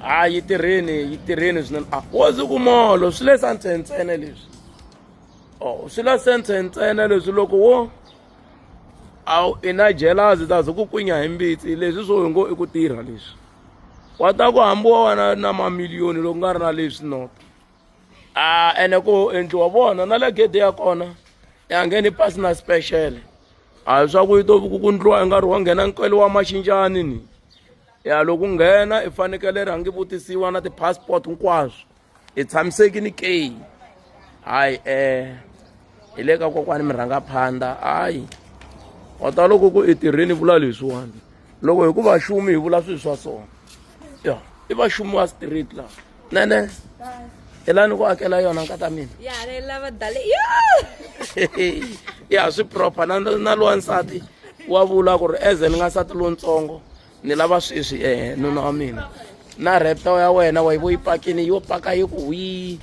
a yi tirheni yi tirheni swinene a wo ndzi ku molo swi le sa ntsentsene leswi o swi la sentse ntsena leswi loko wo a wu i na jealous ta ze ku kwinya hi mbitsi leswi swo hi ngo i ku tirha leswi wa ta ku hambi wa wena na mamiliyoni loko nga ri na leswi nota a ene ku endliwa vona na le gede ya kona ya ngheni pasi na special a hi swa ku yi to ku ku ndliwa i nga ri wa nghena nkwelo wa maxinjani ni ya loko u nghena i fanekele rhangi vutisiwa na ti-passport hinkwaswo i tshamisekini ke hayi um eh, hi le ka kokwani mi rhanga phanda hayi wa ta loko ku i tirheni vula leswiwani loko hi ku vaxumi hi vula swilo swa sona ya i vaxumi wa street laha nene hi la ni ku akela yona nkata mina ya swi proper na na lowa nsati wa vula ku ri eze ni nga nsati lontsongo ni lava sweswi eh nuna wa mina na repto ya wena wa yi vo yi pakini yo paka yi ku hwi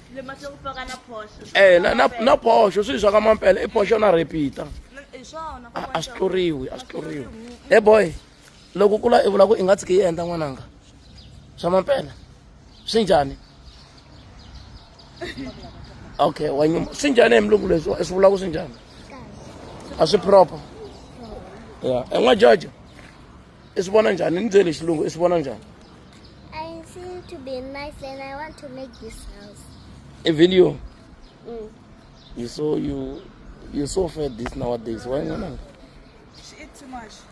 eh na na na posho swi swa ka mampela i posho na repita a swi tluriwi a swi tluriwi he boy loko u kula i vula ku i nga tshiki i endla n'wananga swa mampela swi njhani okay wa nyuma swi njhani hi mulungu leswi swi vula ku swi njhani a swi proper ya en'wa george i swi vona njhani ni byele xilungu i swi vona njhani a video mm. you so you you so fed this nowadays why not she eat too much